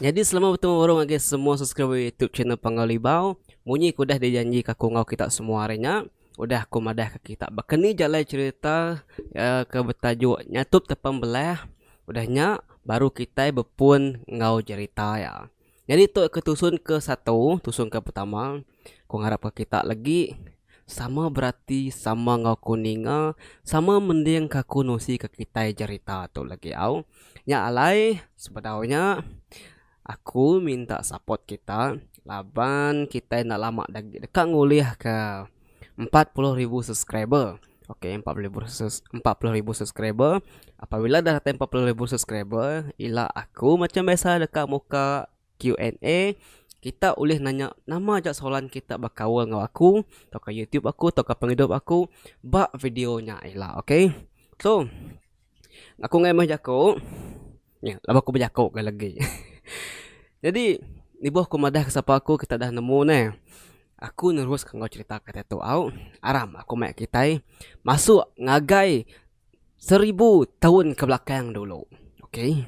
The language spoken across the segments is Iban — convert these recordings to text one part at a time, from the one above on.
Nyadi selama betemu baru ngagai semua subscriber youtube channel Panggau Libau. Munyi ke udah dijanjika aku enggau kita semua hari nya, Udah aku madahka kitak baka ni jalai cherita ke betajuk Nyatup Tepan Belah, udah nya baru kitai bepun enggau cherita iya. Nyadi tu ke tusun ke satu, tusun ke pertama, aku ngarapka kitak legi sama berati, sama enggau aku ninga, sama mendingka aku nusika kitai cherita tu legi au. Nya alai sebedau nya. Aku minta support kita laban kita enda lama agi deka ngulih ke empat puluh ribu subscriber. Ok empat puluh ribu empat puluh ribu subscriber. Apabila dah datai empat puluh ribu subscriber ila aku macam biasa deka muka Q&A kita ulih nanya nama aja soalan kita bekaul enggau aku tauka YouTube aku tauka pengidup aku ba video nya ila ok. So. Aku enggai meh jaku. Nya laban aku bejaku ke legi. Jadi ibuh aku madah ke sapa aku kita dah nemu ne. Aku nerus ke enggau cerita kita tu au. Aram aku maya kitai masuk ngagai seribu taun ke belakang dulu. Okay.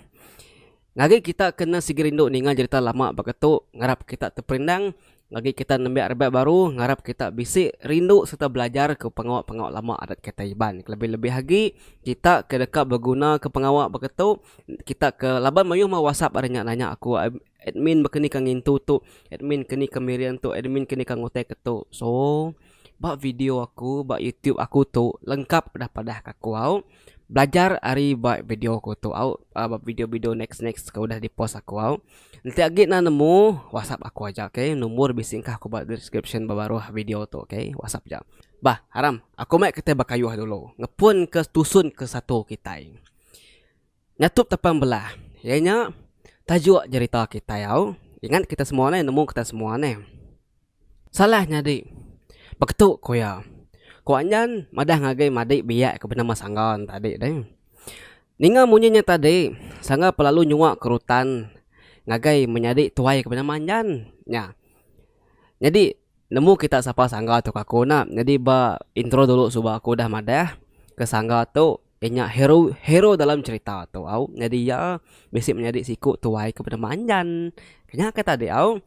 Ngagai kita kena sigi rindu ninga jerita lama baka tu ngarap kita teperindang, ngagai kita nembiak rebak baru ngarap kita bisi rindu sereta belajarka pengawa-pengawa lama adat kitai Iban. Kelebih-lebih agi kita ke deka begunaka pengawa baka tu kita ke laban mayuh meh whatsapp ari nya nanya aku admin baka ni ka ngintu tu, admin keni ka miring tu, admin keni ka nguteka tu. So ba video aku ba youtube aku tu lengkap udah padahka aku au. Belajar ari ba video aku tu au ba video video next next ke udah di post aku au. Enti agi enda nemu whatsapp aku aja ok nombor bisi engkah aku ba description ba baruh video tu ok whatsapp aja. Bah aram aku meh kitai bekayuh dulu ngepun ke tusun ke satu kitai nyatup tapang belah iya nya tajuk jerita kitai au ingat kita semua neh nemu kita semua neh. Salah nyadi. Beketu ku iya. Ku Anjan madah ngagai madik biak ke benama Sangga ne tadi deh. Ninga munyi nya tadi, Sangga pun lalu nyua ke rutan ngagai menyadi tuai ke benama Anjan nya. Nyadi nemu kita sapa Sangga tu ka aku ena. Nyadi ba intro dulu suba aku udah madah ke Sangga tu Iya nya hero hero dalam cerita tu au nyadi iya bisi menyadi siku tuai ke penemu Anjan. Ke nya ke tadi au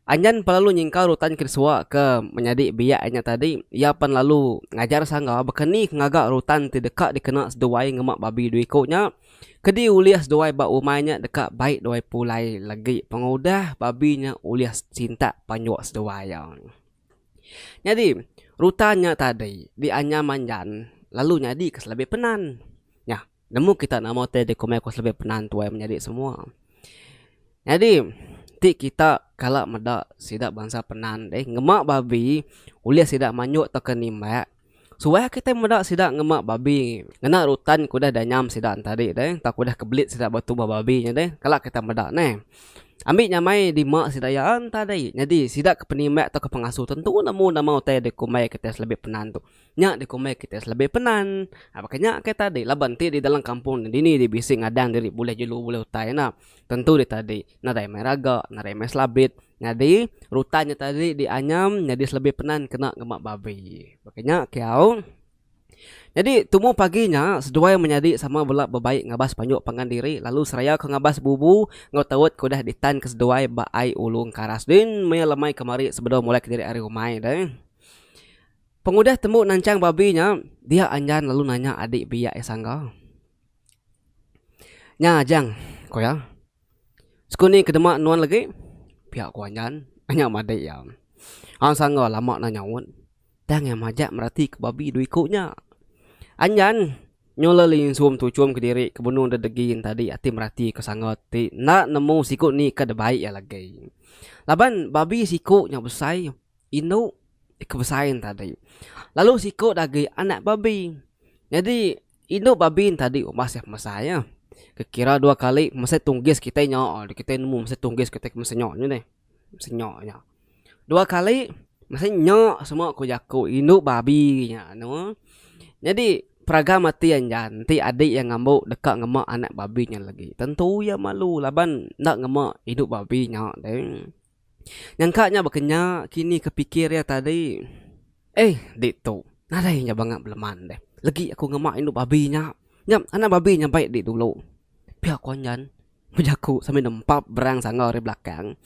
Anjan pan lalu nyingkau rutan ke disua ke menyadi biak iya nya tadi iya pan lalu ngajar sangga baka ni ke ngaga rutan ti deka dikena seduai ngema babi dua iku nya kedi ulih seduai ba umai nya deka baik duai pulai legi pengudah babi nya ulih sintak panjua seduai iya. Nyadi, rutan nya tadi dianyam manjan lalu nyadi ke selebih penan. Nya, nemu kita nama utai ti ku meh ku selebih penan tuai menyadi semua. Nyadi, ti kita kala meda sida bansa penan deh ngema babi ulih sida manyuk tauka nimbak. Suah kitai meda sida ngema babi ngena rutan ke udah danyam sida tadi deh tau ke udah kebelit sida ba tubuh babi nya deh kala kitai meda neh. Ambi nyamai dima sida iya tadi nyadi sida ke penimba tauka pengasuh tentu nemu nama utai dikumbai kitai selebih penan tu. Nya dikumbai kitai selebih penan. Nah baka nya ke tadi laban ti di dalam kampung ne dini dibisi ngadang diri bulih jelu bulih utai ena tentu deh tadi. Nadai mai raga, nadai mai selabit. Nyadi, rutan nya tadi dianyam nyadi selebih penan kena ngema babi. Baka nya kiau. Nyadi, tumu pagi nya seduai menyadi sama bela bebai ngabas panjuk pangan diri lalu seraya ke ngabas bubu enggau taut ke udah ditan ke seduai ba ai Ulu Engkaras. Din maya le mai kemari sebedau mulai kediri ari umai deh. Pengudah tembu nancang babi nya, dia Anjan lalu nanya adik biak iya sangga. Nya Ajang, ku iya. Sekuni ke dema nuan legi pia ku anyan nya madei iya. Hang sangga lama neh nyaut tang iya majak merati ke babi dua iku nya. Anyan nyulah linsum tu chum kediri ke benung deh degi tadi ati merati ke sangga ti enda nemu siku ni ke deh baik iya legi. Laban babi siku nya besai indu ke besai ne tadi lalu siku agi anak babi. Nyadi Indu babi ntadi umas iya pemesai nya. Kekira dua kali pemesai tunggis kitai nya alai kitai nemu pemesai tunggis kitai pemesai nya nya deh. Pemesai nya nya. Dua kali pemesai nya semua ku jaku indu babi nya anu. Nyadi peragam ati anjan ti adi iya ngambu deka ngema anak babi nya lagi tentu iya malu laban enda ngema indu babi nya deh. Nyangka nya baka nya kini ke pikir iya tadi. Eh, ditu. Nadai nya banga beleman deh. Legi aku ngema indu babi nya. Nya anak babi nya baik di dulu. Pia ko anyan bejaku sambil nempap berang sangau ari belakang.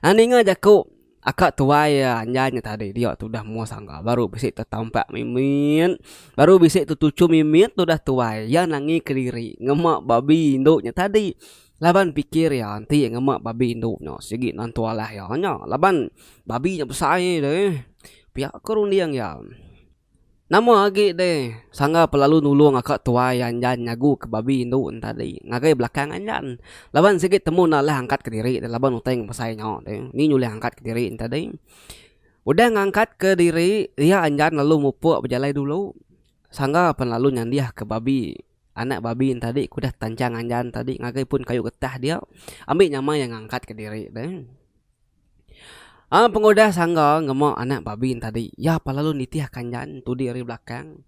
Ninga jaku aka tuai anyan nya tadi dia tu udah mua sangau baru bisi tetampak mimit. Baru bisi tetuchum mimit udah tuai. Iya nangi kediri ngema babi indu nya tadi. Laban pikir iya enti ngema babi indu nya sigi nentu alah iya nya laban babi nya besai deh. Pia ko runding iya. Nama agi deh sangga pelalu nulung aka tuai anjan nyagu ke babi indu en tadi ngagai belakang anjan laban sigi temu enda alah angkat kediri deh laban utai besai nya deh ni nyulih angkat kediri en tadi. Udah ngangkat kediri iya anjan lalu mupuk bejalai dulu sangga pen lalu nyandih ke babi. Anak babi entadi ke udah tanchang anjan tadi ngagai pun kayu getah dia ambi nyamai iya ngangkat ke diri deh. Aaa pengudah sangga ngema anak babi entadi iya pa lalu nitih ka anjan tudi ari belakang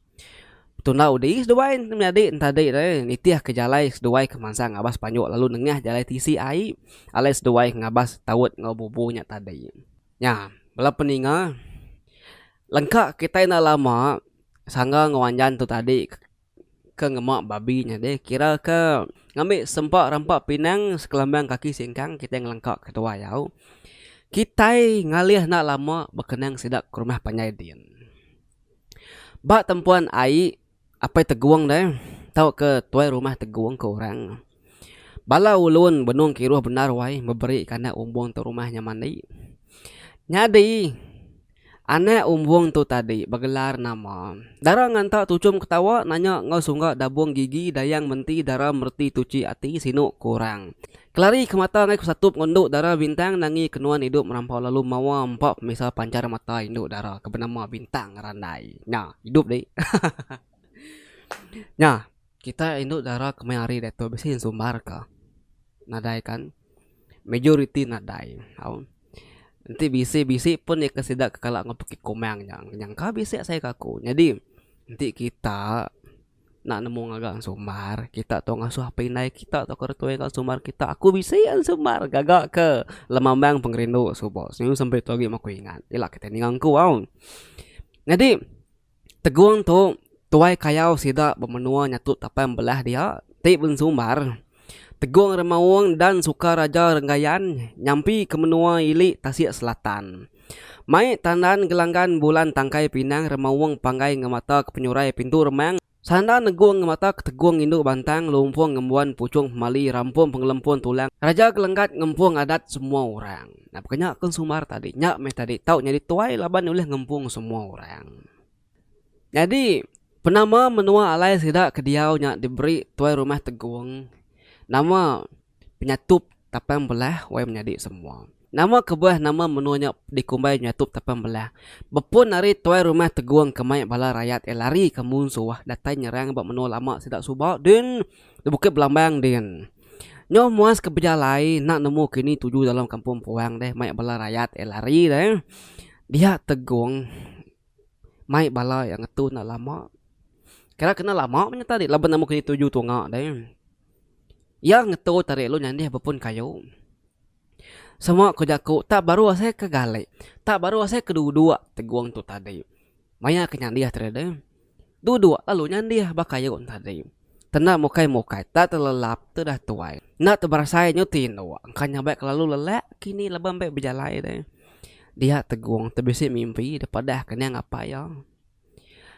betunda udi seduai menyadi entadi deh nitih ka jalai seduai ke mansang ngabas panjok lalu nengah jalai tisi ai alai seduai ngabas taut enggau bubu nya tadi. Nya bala peninga lengka kitai enda lama sangga enggau anjan tu tadi Ke ngema babi nya deh kira ke ngambi sempa rampa pinang sekelambang kaki singkang kitai ngelengka ke tuai au. Kitai ngalih enda lama bekenang sida ke rumah panjai din. Ba tempuan ai apai tegung deh tauka tuai rumah tegung ke orang. Bala ulun benung kiruh bendar wai beberi ka anak umbung tu rumah nya mandi. Nyadi anak umbung tu tadi begelar nama. Dara nganta tuchum ketawa nanya enggau sungga dabung gigi dayang menti dara mereti tuchi ati sinu ku orang. Kelari ke mata ngai ku satup enggau endu dara Bintang nangi ke nuan idup merampau lalu mawa empa pemisa panchar mata indu dara ke benama Bintang Randai. Nya idup dih. Nya. Kitai indu dara kemai hari diatu bisi sumbar ka nadai kan majoriti nadai tau enti bisi bisi pun eka sida ke kala enggau pekit kumang nya nyangka bisi asai ka aku nyadi enti kita nak nemu ngaga sumbar kita tau ngasuh apai indai kita tau orang tuai kita sumbar kita aku bisi an sumbar gaga ke lemambang pengerindu suba semina sempe tu agi maku ingat ila kitai ninga ku au nyadi. Tegung tu tuai kayau sida bemenua nyatu tapai embelah dia ti bensumbar Tegung Remaung dan Sukaraja Renggayan nyampi ke menua ili tasik selatan. Mai tandan Gelanggan Bulan Tangkai Pinang Remaung panggai ngemata ke penyurai Pintu Remang, Sanda Negung ngemata ke Tegung Indu Bantang Lumpung Ngembuan Puchung Pemali Rampung Pengelempun Tulang Raja Gelenggat Ngempung Adat Semua Orang. Nah baka nya aku sumbar tadi, nya meh tadi tau nyadi tuai laban ulih ngempung semua orang. Nyadi penama menua alai sida ke diau nya diberi tuai rumah tegung, nama penyatup tapan belah wai menyadi semua. Nama kebuah nama menua nya dikumbai nyatup tapan belah. Bepun ari tuai rumah tegung ke mai bala rayat iya lari ke munsuh datai nyerang ba menua lama sida suba din di Bukit Belambang din. Nyau muas ke bejalai enda nemu kini tuju dalam kampung puang deh mai bala rayat eh lari deh dia tegong mai bala yang ngetu enda lama kira kena lama meh nyata ri laban nemu kini tuju tunga deh iya ngetu ta ri lu nyandih bepun kayu semua ku jaku tak baru asai ke gale tak baru asai ke duduk tegong tu tadi maya ke nyandih tadi deh. Duduk lalu nyandih baka irup tadi. Tenda mukai mukai tak telelap tu dah tuai. Enda teberasai nyu ti indu engka nyambai kelalu lelak kini laban mbai bejalai deh. Dia tegung tebisi mimpi depadah ke niang apai iya.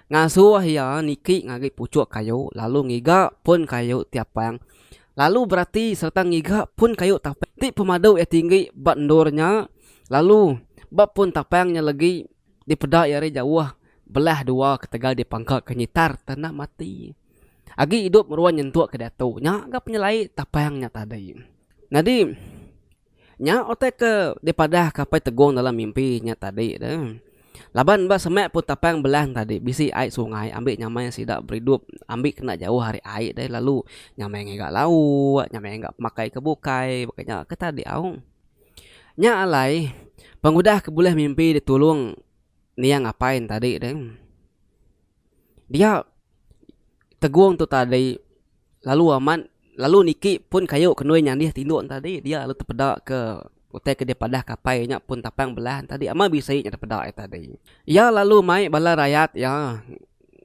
Ngasuh iya niki ngagi puchuk kayu lalu ngiga pun kayu ti apang lalu berati sereta ngiga pun kayu tapang ti pemadu iya tinggi ba endur nya lalu ba pun tapang nya legi Dipeda iya ari jauh, belah dua ketegal dipangka ke nyitar tanah mati. Agi idup meruan nyentuk ke diatu nya ga penyelai tapang nya tadi. Nyadi, nya utai ke dipadah ke Apai Tegong dalam mimpi nya tadi tu. Laban ba semak pun tapang Belang tadi bisi ai sungai ambi nyamai sida beridup ambi kena jauh ari ai deh lalu nyamai ngiga lauk, nyamai ngiga pemakai ke bukai baka nya ke tadi au. Nya alai pengudah ke bulih mimpi ditulung niang apai ne tadi deh. Dia tegong tu tadi lalu amat lalu niki pun kayu ke nuai nyandih tindu ne tadi dia lalu tepeda ke utai ke dia padahka apai nya pun tapang bela ne tadi amat bisi nya tepeda aye tadi. Iya lalu mai bala rayat iya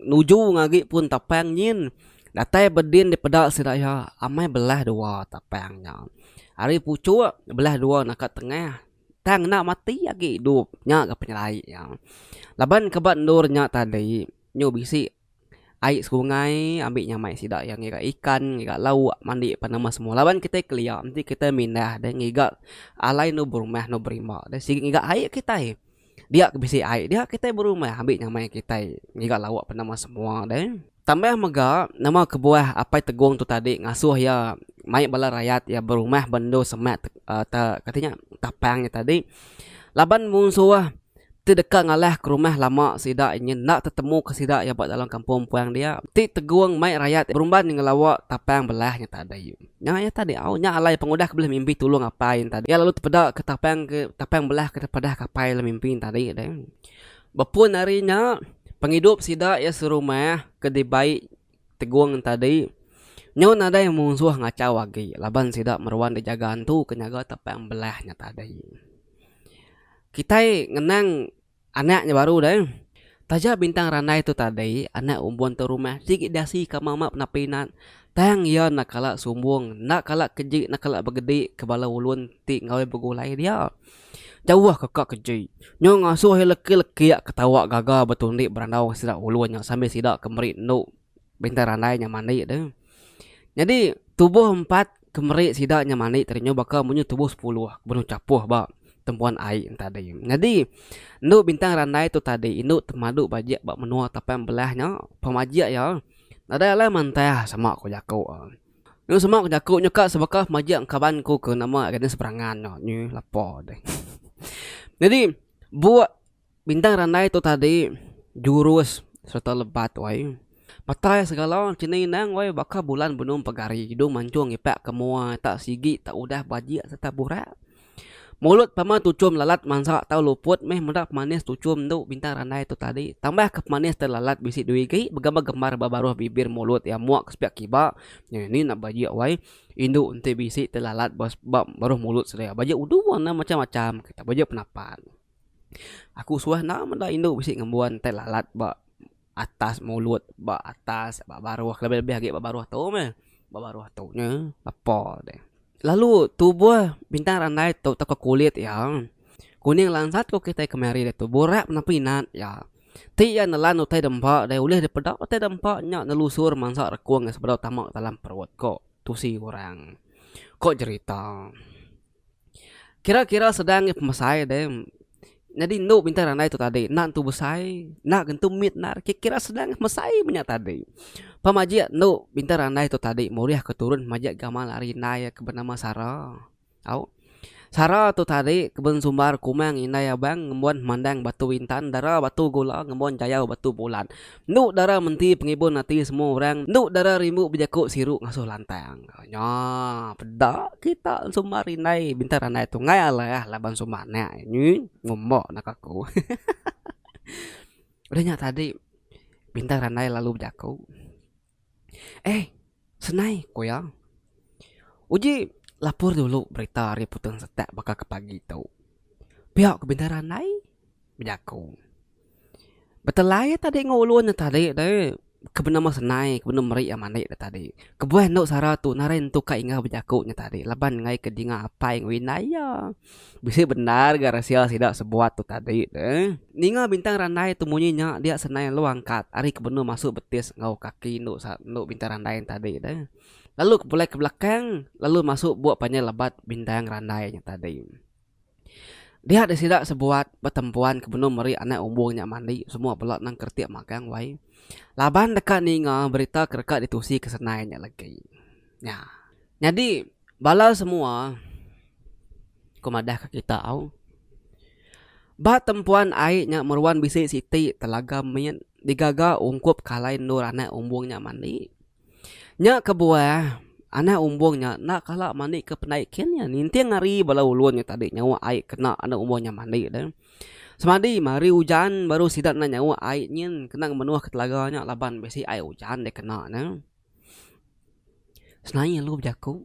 Nuju ngagi pun tapang nyin. Datai bedin dipeda sida iya, amai belah dua tapang nya. Ari puchuk, belah dua naka tengah. Tang enda mati agi idup. Nya ga penyelai iya. Laban ke ba endur nya tadi, nyu bisi ai sungai ambi nyamai sida iya ngiga ikan, ngiga lauk, mandi pan amat semua. Laban kitai kelia enti kitai mindah deh ngiga alai endur berumah, endur berimba deh sigi ngiga ai kitai. Dia ke bisi ai, dia kitai berumah ambi nyamai kitai ngiga lauk penama semua deh. Tambah mega, nama kebuah Apai Tegong tu tadi ngasuh iya mai bala rayat iya berumah ba endur semak te te kati nya tapang nya tadi laban munsuh ti deka ngalahka rumah lama sida inya enda tetemuka sida iya ba dalam kampung empuang dia ti Tegong mai rayat berumban ngelawa tapang belah nya tadi. Nya iya tadi au, nya alai pengudah ke bulih mimpi tulung apai ne tadi. Iya lalu tepeda ke tapang ke tapang belah ke tepadah ke apai le mimpi ne tadi deh. Bepun ari nya, pengidup sida iya serumah ke dibai Tegong ne tadi nyau nadai munsuh ngachau agi laban sida meruan dijaga antu ke nyaga tapang belah nya tadi. Kitai ngenang Anak nya baru deh. Taja bintang randai tu tadi, anak umbun tu rumah sigi dasi ka mama penapi nat, tang iya enda kala sumbung, enda kala keji enda kala begedi ke bala ulun ti enggau begulai dia. Jauh ke ka keji. Nyu ngasuh iya leki-leki ketawa gaga betundi berandau sida ulun nya sambil sida ke meri endu Bintang randai nya mani tu. Nyadi tubuh empat ke meri sida nya mani tadi nyau baka munyi tubuh sepuluh ke benung chapuh ba tembuan ai nya tadi. Nyadi endu bintang randai tu tadi indu temadu bajik ba menua tapai embelah nya pemajik iya nadai alai mantah sama ku jaku. Lalu sama ku jaku nya ka sebaka pemajik engka kaban ku ke nama Agnes Perangan nya nyi lapa deh. Nyadi buk. Bintang randai tu tadi jurus sereta lebat wai. Matai segala chini endang wai baka bulan benung pegari hidung mancung ngipak ke mua tak sigi tak udah bajik sereta burak. Mulut pama tuchum lalat mansa tau luput meh meda pemanis tuchum endo bintang randai tu tadi tambah ke pemanis te lalat bisi dua igi begambar gambar ba baruh bibir mulut iya mua ke sepiak kiba nyeh eni enda bajik wai indu enti bisi te lalat ba baruh mulut sedia bajik udu warna macam macam kita bajik penapat. Aku suah enda meda indu bisi ngembuan tai lalat ba atas mulut ba atas ba baruh lebih lebih agi ba baruh tu meh ba baruh tu nya lepa deh lalu tubuh bintang randai tu tauka kulit iya kuning lansat ku kitai kemari ditu burak napi nat iya ti iya nelan utai da empa deh ulih dipeda utai da empa nya nelusur mansa rekung iya sebedau tama dalam perut ko tusi orang ko jerita. Kira kira sedang nya pemesai deh nyadi enda bintang nya andai tu tadi enda tentu besai enda tentu mit enda kira kira sedang mesai meh nya tadi pa majik enda bintang andai tu tadi murih ke turun majik gamal ari indai ke benama sara au sara tu tadi keban sumbar kumang indai abang ngembuan mandang batu intan dara batu gula ngembuan jayau batu bulan Endu dara menti pengibun ati semua orang, endu dara rindu bejaku siru ngasuh lantang. Nya peda kita ensumbar indai bintang randai tu enggai alah laban sumbar anak nyi ngumba naka aku. Udah nya tadi bintang randai lalu bejaku. Eh, senai, ku iya. Uji lapur dulu berita ari Putung Setak baka ke pagi tu. Pia ku Bendar Andai bejaku. Betelai iya tadi enggau ulun iya tadi deh, ke benama senai, ke benama meri iya mandi iya tadi. Kebuah endo sara tu narai nentuka enggau bejaku iya tadi laban enggai ke dinga apai enggau indai iya. Bisi bendar ga resil sida sebuat tu tadi de. Ninga bintang randai tu munyi nya dia senai lu angkat ari ke benung masu betis enggau kaki endu sa endu bintang randai nya tadi de. Lalu ke pulai ke belakang lalu masu buk panjai lebat bintang randai nya tadi. Dia de sida sebuat betempuan ke benung meri anak umbung nya mandi semua bela nang keretik magang wai. Laban deka ninga berita ke deka ditusi ke senai nya legi. Nya. Nyadi bala semua ku madah ka kita au ba tempuan ai nya meruan bisi siti telaga mit digaga ungkup kalai endur anak umbung nya mandi nya kebuah anak umbung nya enda kala mandi ke pendai kin nya ninting hari bala ulun nya tadi nyawa ai kena anak umbung nya mandi tu semadi meh hari ujan baru sida enda nyawa ai nyin kena menuh ka telaga nya laban bisi ai ujan dikena ne. Senaie lu bejaku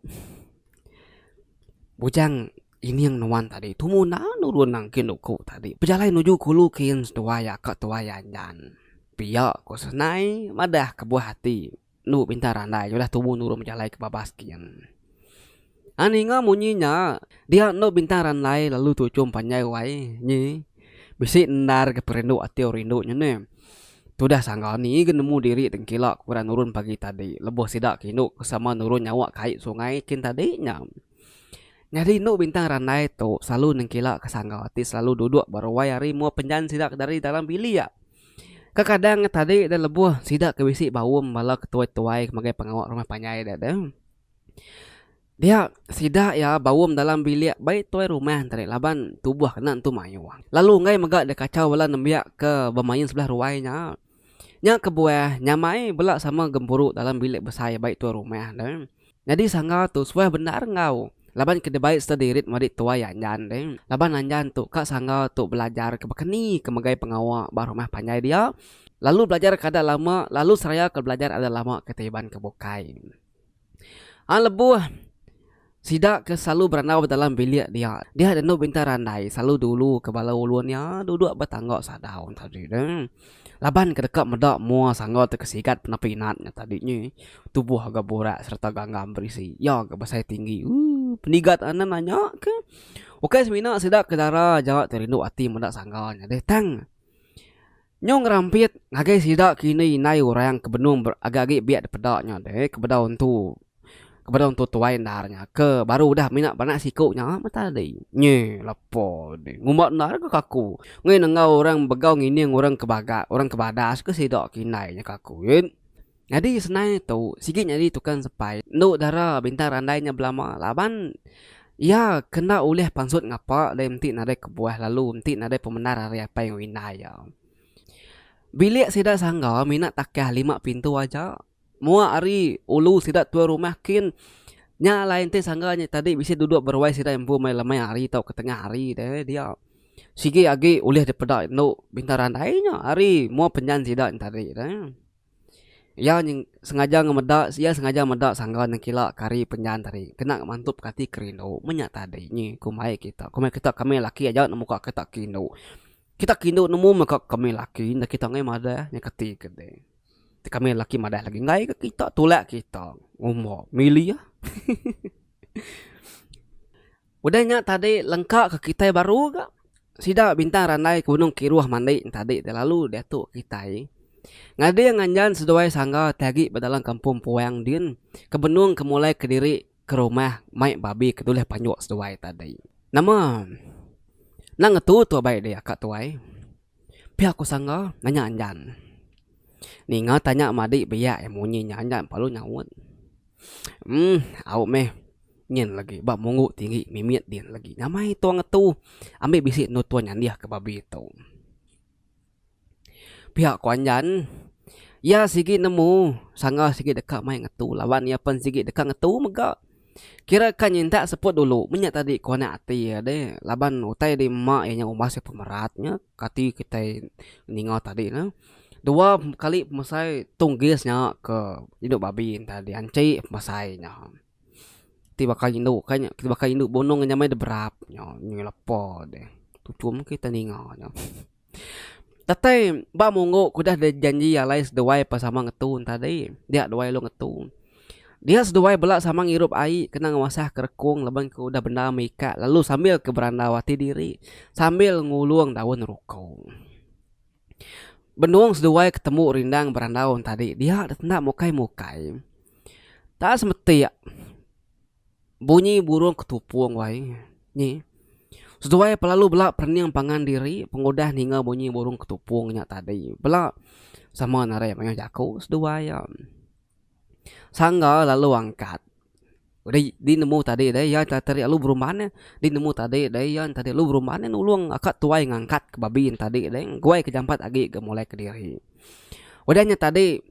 bujang ining nuan tadi tumu enda nurun nangkin uku tadi pejalai nuju ke ulu ke yen seduai aka tuai anjan. Pia ku senai madah kebuah ati enu bintang randai udah tumu nurun bejalai ke babas ke yen. Nya ninga munyi nya, dia endo bintang randai lalu tuchum panjai wai nyi. Bisi endar ke perindu ati orang indu nya neh. Tudah sangga ni ke nemu diri tengkila ke orang nurun pagi tadi lebuh sida ke indu ke sama nurun nyawa kai sungai kin tadi nya. Nyadi endo bintang randai tu selalu nengkila ke sangga ti selalu duduk ba ruai hari mua penjan sida ke dari dalam bilik. Kekadang tadi deh lebuh sida ke bisi baum bala ke tuai-tuai ke magai pengawa rumah panjai deh tu. Dia sida iya baum dalam bilik bai tuai rumah tadi laban tubuh kena entu mayuh. Lalu enggai mega dia kachau bala nembiak ke bemain sebelah ruai nya. Nya kebuah nyamai bela sama gempuru dalam bilik besai bai tuai rumah deh. Nyadi sangga tu suah bendar enggau laban ke dibai sereta diirit madi tuai Anjan deh. Laban Anjan tu ka sangga tu belajar ke baka ni ke megai pengawa ba rumah panjai dia lalu belajar kada lama lalu seraya ke belajar ada lama ke tiban ke bukai. Ai lebuh sida ke selalu berandau ba dalam bilik dia, dia enda dulu bintang randai selalu dulu ke bala ulun nya duduk ba tangga sadau nya tadi tu. Laban ke deka meda mua sangga tu ke sigat pina pinat nya tadi nyi tubuh ga burak sereta ganggam berisi iya ga besai tinggi ooh pendigat anem anya ke ukai semina sida ke dara jawa ti rindu ati meda sangga nya deh tang. Nyau ngerampit ngagai sida kini indai orang ke benung agi-agi biak dipeda nya deh ke bedau entu ke bedau entu tuai endar nya ke baru udah mina beranak siku nya meh tadi. Nyi lepa deh ngumba endar ke kaku ngena enggau orang begau ngining orang ke bagas orang ke badas ke sida ke indai nya kaku. Nyadi senai tu sigi nyadi tukang sepai endu dara bintang randai nya belama laban iya ke enda ulih pansut ngapa deh enti nadai kebuah lalu enti nadai pemendar ari apai enggau indai iya. Bilik sida sangga mina takah lima pintu aja. Mua ari ulu sida tuai rumah kin nya alai enti sangga nya tadi bisi duduk beruai sida empu meh lemai hari tau ketengah hari deh dia. Sigi agi ulih dipeda endu bintang randai nya ari mua penjan sida nya tadi deh. Iya nyeng sengaja ngemeda iya sengaja meda sangga nengkila ke hari penjan tadi kena mantup ke ati ke rindu. Meh nya tadi nyi ku mai kita. Ku mai kita ke ami laki aja nemu ka kita ke indu. Kita ke indu nemu meh ka ke ami laki enda kita angai madah nya kati ke deh. Ti ke ami laki madah lagi enggai ke kita tulak kita umba mili ah. Udah nya tadi lengka ke kitai baru ga sida bintang randai gunung kiruh mandi tadi ti lalu diatu kitai ngading nganjan seduai sangga ti agi ba dalam kampung puang din ke benung ke mulai kediri ke rumah mai babi ke dulih panjuk seduai tadi. Nama nang ngetu tu abai deh aka tuai. Pia ku sangga nanya anjan. Ninga tanya madi biak iya munyi nya anjan palu nyaut. Emm au meh nyin legi ba munggu tinggi mimit din legi nyamai tua ngetu ambi bisi endu tua nyandih ke babi tu. Pia ku anjan iya sigi nemu sangga sigi deka mai ngetu laban iya pen sigi deka ngetu mega Kira ka nyintak seput dulu meh nya tadi ku anak ati iya deh laban utai di ema iya nya umbas iya pemerat nya kati kitai ninga tadi ne. Dua kali pemesai tunggis nya ke indu babi entah dianchi pemesai nya. Ti baka indu ka nya ti baka indu bunong nya meh dep berap nya nyui lepa deh tuchum kitai ninga nya. Datai ba munggu ku udah bejanji alai seduai ba sama ngetu tadi dia duai lalu ngetu. Dia seduai bela sama ngirup ai kena ngemasah ka rekung laban ku udah bendar meh ikak lalu sambil ke berandau ati diri sambil ngulung daun ruko. Benung seduai ketemu rindang berandau tadi dia enda mukai mukai. Taap semetik. Bunyi burung ketupung wai nyi. Seduai pelalu bela perening pangan diri pengudah ninga bunyi burung ketupung nya tadi. Bela sama narai mayuh jaku seduai iya. Sangga lalu angkat ri di nemu tadi deh iya enta teri alu berumban neh di nemu tadi deh iya enta teri alu berumban neh nulung aka tuai ngangkat ke babi nya tadi deh engguai ke jampat agi ke mulai kediri. Udah nya tadi.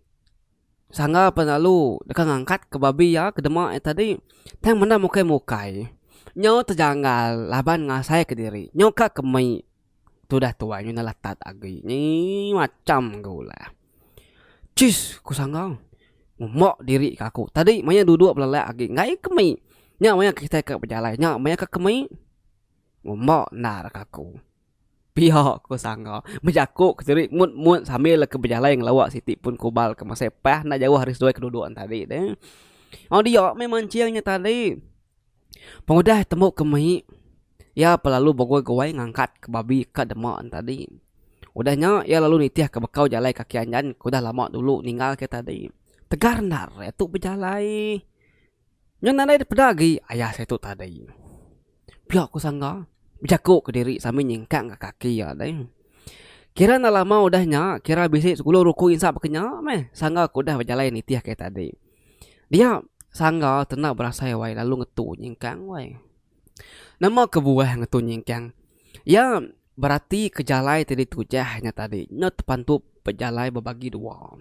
Sangga pan lalu deka ngangkat ke babi iya ke dema iya tadi tang menda mukai-mukai nyau tejanggal laban ngasai ke diri nyau ka ke mei tu dah tuai ngena latat agi nyii macham ga ulah. Chis ku sangga uma diri ka aku tadi maya duduk belelak agi enggai ke mei nya maya kitai ka bejalai nya maya ka ke mei uma endar ka aku. Pia ko sangga. Bejaku ke tiri mut-mut sambil leka bejalai ngelawa siti pun kubal ke masai pah enda jauh ari seduai ke duduk ne tadi tu. Au dia meh mancing nya tadi. Pengudah tembu ke mai iya peh lalu begoi-goi ngangkat ke babi ka dema ne tadi. Udah nya iya lalu nitih ke bekau jalai kaki anjan ke udah lama dulu ninggal ke tadi. Tegar enda re tu bejalai. Nya nadai peda agi ayah seh tu tadi. Pia ku Sangga bejaku kediri sambil nyingkang ka kaki iya tadi. Kira enda lama udah nya, kira bisi sepuluh ruku insa baka nya meh Sangga ke udah bejalai nitih ke tadi. Dia Sangga tenda berasai wai lalu ngetu nyingkang wai. Nama kebuah ngetu nyingkang? Iya berati ke jalai ti ditujah nya tadi nya tepantup bejalai bebagi dua.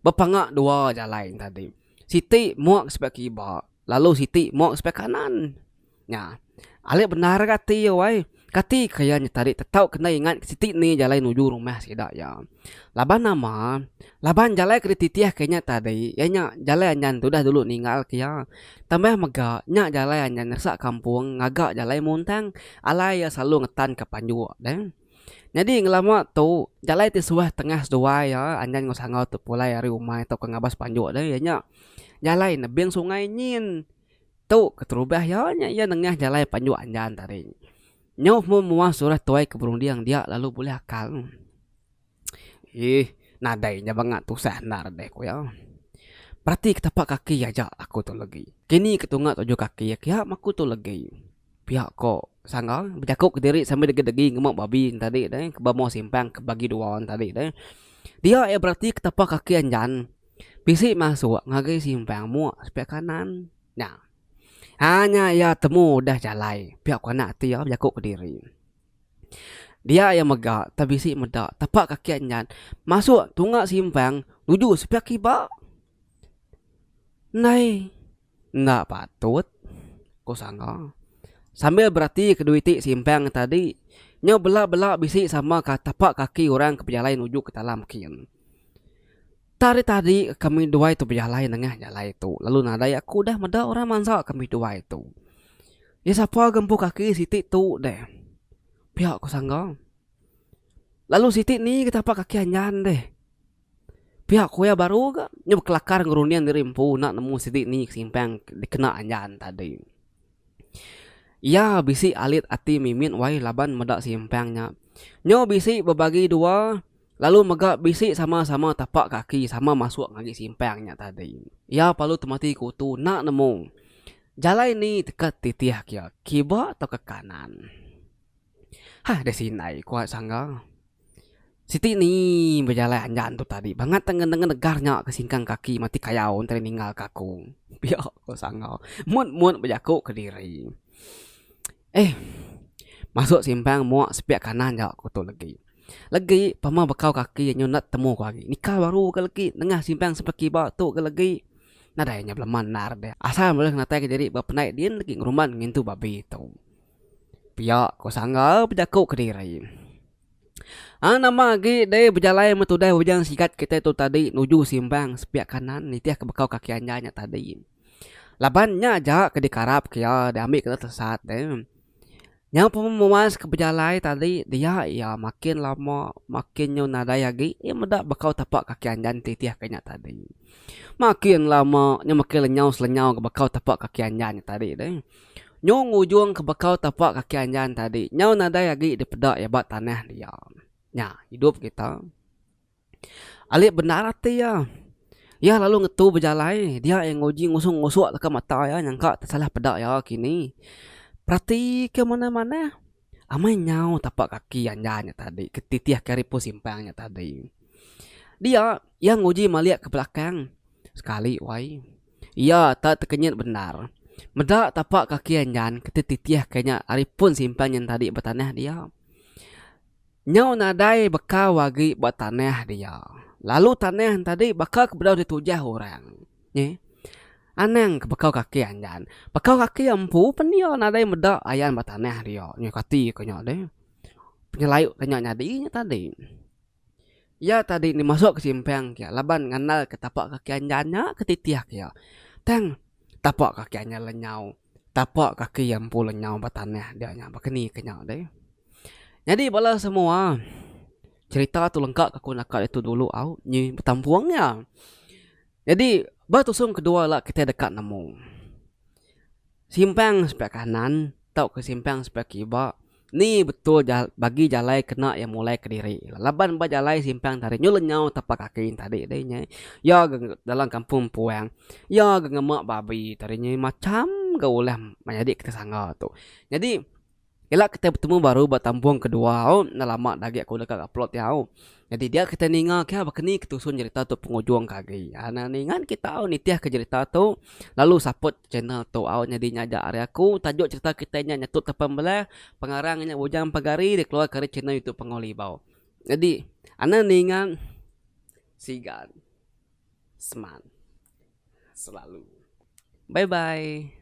Bepanga dua jalai nya tadi. Siti muak ke sebelah kiba, lalu siti muak ke sebelah kanan. Nya, alik bendar aja ati iya wai. Kati ke iya nyet ari tetau ke enda ingat siti ni jalai nuju rumah sida iya. Laban nama, laban jalai ke dititih ke inya tadi iya nya jalai anyan tudah dulu ninggal ke iya. Tambah mega, nya jalai anyan ngeresak kampung ngaga jalai muntang alai iya selalu ngetanka panjuk deh. Nyadi ngelama tu, jalai ti suah tengah seduai iya anjan enggau sangau tu pulai ari umai tauka ngabas panjuk deh iya nya jalai nebing sungai nyin. Tu keterubah iya nya iya nengah jalai panjuk anjan tadi. Nyuh meh mua surah tuai ke berunding dia lalu bulih akal. Iih nadai nya banga tusah endar deh ku iya. Perati ke tapak kaki iya aja aku tu legi. Kini ke tunga tuju kaki iya kiya meh aku tu legi. Pia ko sangga bejaku kediri sambil degi degi ngemu babi ne tadi deh ke ba mua simpang ke bagi dua ne tadi deh. Dia iya berati ke tapak kaki iya nyan bisi masuk ngagai simpang mua sebelah kanan nya. Hanya iya temu udah jalai pia ko anak ti iya bejaku kediri. Dia iya mega tang bisi meda tapak kaki anyan masuk tunga simpang nuju sepiak iba. Nai enda patut ku sanga sambil berati ke dua iti simpang tadi nyau bela bela bisi sama ka tapak kaki orang ke bejalai nuju ke talam kin. Tari tadi kami duai tu bejalai nengah jalai tu lalu nadai aku udah meda orang mansa kami duai tu. Iya sapa ga empu kaki siti tu deh. Pia ku sangga. Lalu siti ni ga tapa kaki anjan deh. Pia ku iya baru ga nya bekelakar ngerunding diri empu enda nemu siti ni ke simpang dikena anjan tadi. Iya bisi alit ati mimit wai laban meda simpang nya. Nyo bisi bebagi dua lalu mega bisi sama-sama tapak kaki sama masuk ngagai simpang nya tadi. Iya parlu temati kutu enda nemu jalai ni ke titih kiya kiba tauka kanan. Hah deh sindai ku sangga. Siti ni bejalai anjan tu tadi bangat tang ngendenga negar nya ke singkang kaki mati kayau enti ninggal ka aku. Pia ku Sangau mut mut bejaku kediri. Eh masuk simpang mua sepiak kanan ja ku tu legi. Legi pa meh bekau kaki nyu enda temu ku agi nikal baru ga legi nengah simpang sebelah kiba tu ga legi nadai nya belema endar deh asal meh natai kediri ba pendai din legi ngeruman ngintu babi tu. Pia ko Sanggal bejaku kediri. Ang nama agi deh bejalai meh tudah ujan sigat kitai tu tadi nuju Simbang sepiak kanan nitih ke bekau kaki anjai nya tadi. Laban nya aja ke dikarap ke iya diambi kena tesat deh. Nyau pun memuas ke bejalai tadi dia iya makin lama makin nyu nadai agi iya meda bekau tepak kaki anjai nitih ke nya tadi. Makin lama nya makin lenyau selenyau bekau tepak kaki anjai nya tadi deh. Nyau ngujung ke bekau tapak kaki anjan tadi nyau nadai agi dipeda iya ba tanah dia. Nya idup kita. Alit bendar ati iya. Iya lalu ngetu bejalai dia iya nguji ngusung ngusuk deka mata iya nyangka tesalah peda iya kini. Peratika manah-manah amai nyau tapak kaki anjan nya tadi ke titihka ari pun simpang nya tadi. Dia iya nguji malik ke belakang sekali wai. Iya tak tekenyit bendar. Meda tapak kaki anjan keti titih ke nya ari pun simpan nyin tadi ba tanah dia. Nyau nadai bekau agi ba tanah dia. Lalu tanah entadi baka ke bedau ditujah orang. Nyi. Anang ke bekau kaki anjan. Bekau kaki empu pen iya nadai meda ayan ba tanah dia. Nyi kati ke nya deh. Penyelauk ke nya nyadi nya tadi. Iya tadi enda masuk ke simpang kia laban ngandal ke tapak kaki anjan nya ke titih iya. Tang tapak kaki anjan lenyau, tapak kaki iya empu lenyau ba tanah dia nya baka ni ke nya deh. Nyadi bala semua cerita tu lengka ke aku naka ditu dulu au nyi betampung iya. Nyadi ba tusung ke dua ila kita deka nemu simpang sebelah kanan tauka simpang sebelah kiba. Ni betul jal bagi jalai kena iya mulai kediri. Laban ba jalai simpang tadi nyul lenyau tapak kaki nya tadi deh nya. Iya ga dalam kampung empuang iya ga ngema babi tadi nya macham ga ulah menyadi ke sanga tu. Nyadi ila kitai betemu baru ba tambong kedua au enda lama agi aku deka ke upload iya au. Nyadi dia kita ninga kah baka ni ketusun jerita tu pengujung ke agi. Ai na ningan kita au nitih ke jerita tu lalu support channel tu au nyadi nya aja ari aku tajuk jerita kitai nya nyetut ke pembelah pengarang nya Bujang Pagari dikeluarka ari channel youtube Panggau Libau. Nyadi ana ninga sigan seman selalu. Bye bye.